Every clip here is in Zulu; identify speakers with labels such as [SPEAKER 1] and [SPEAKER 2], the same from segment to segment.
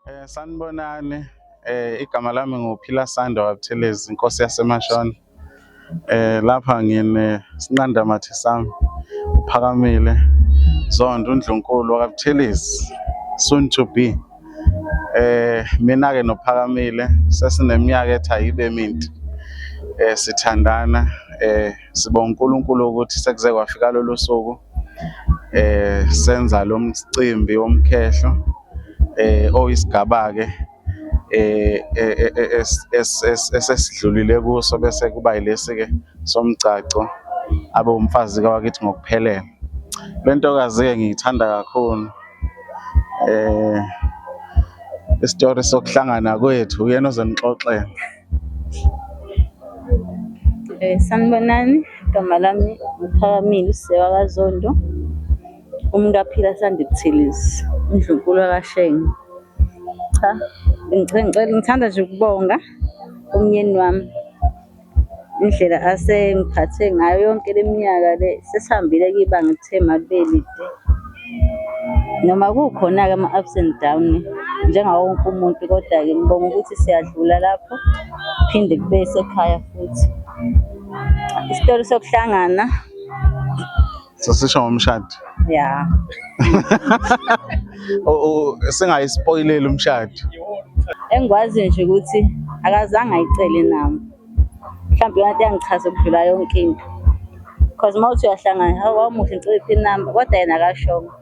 [SPEAKER 1] Eh sanibonani eh igama lami nguphila Sando wabuthelezi inkosi yasemashona eh lapha ngine sinqanda mathe sami uphakamile zondo undlunkulu wakabuthelezi soon to be eh mina ke nophakamile sesineminyaka ethi ayibe minti eh sithandana eh sibonga uNkulunkulu ukuthi sekuze kwafika lolu suku eh senza lo mcimbi womkhehlo eh oyisigaba-ke eh, eh, eh, eh esesidlulile kuso bese kuba yilesi-ke somgcagco abe umfazi kawakithi ngokuphelele le ntokazi-ke ngiyithanda kakhulu eh isitori sokuhlangana kwethu uyena ozonixoxela
[SPEAKER 2] Eh, sanibonani, igama lami uPhakamile uSisewa kaZondo, umkaPhila Sandi Buthelezi, uNdlunkulu kaShenge. Cha, ngithanda nje ukubonga umnyeni wami indlela asengiphathe ngayo yonke le minyaka le, sesihambile-ke ibanga elithe malibelide. Noma kukhona-ke ama-ups and down njengawo wonke umuntu, kodwa-ke ngibonga ukuthi siyadlula lapho phinde kube sekhaya futhi. Isitori sokuhlangana
[SPEAKER 1] Sasisho ngomshado. ya
[SPEAKER 2] O-
[SPEAKER 1] o- Singayispoileli umshado. engikwaziyo
[SPEAKER 2] nje ukuthi akazange ayicele nami. mhlawumbe iyona nto eyangichaza ukudlula yonke into because uma uthi uyahlangana hawu wawumuhle ngicela iphi inamba kodwa yena akashongo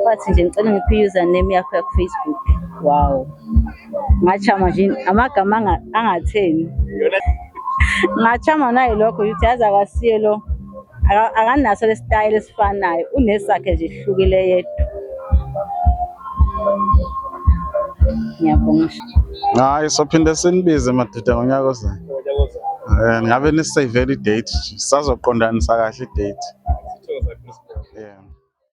[SPEAKER 2] wathi nje ngicela ngiphi i-username yakho yakufacebook wow ngachama nje amagama angatheni ngachama naye lokho ukuthi yazi akasiye lo akanaso lesitayela esifanayo unesakhe nje hlukile yedwa Ngiyabonga. Hayi
[SPEAKER 1] sophinde sinibize madoda ngonyaka ozayo. Eh ngabe ni save i date sazoqondanisa kahle i date. Yeah.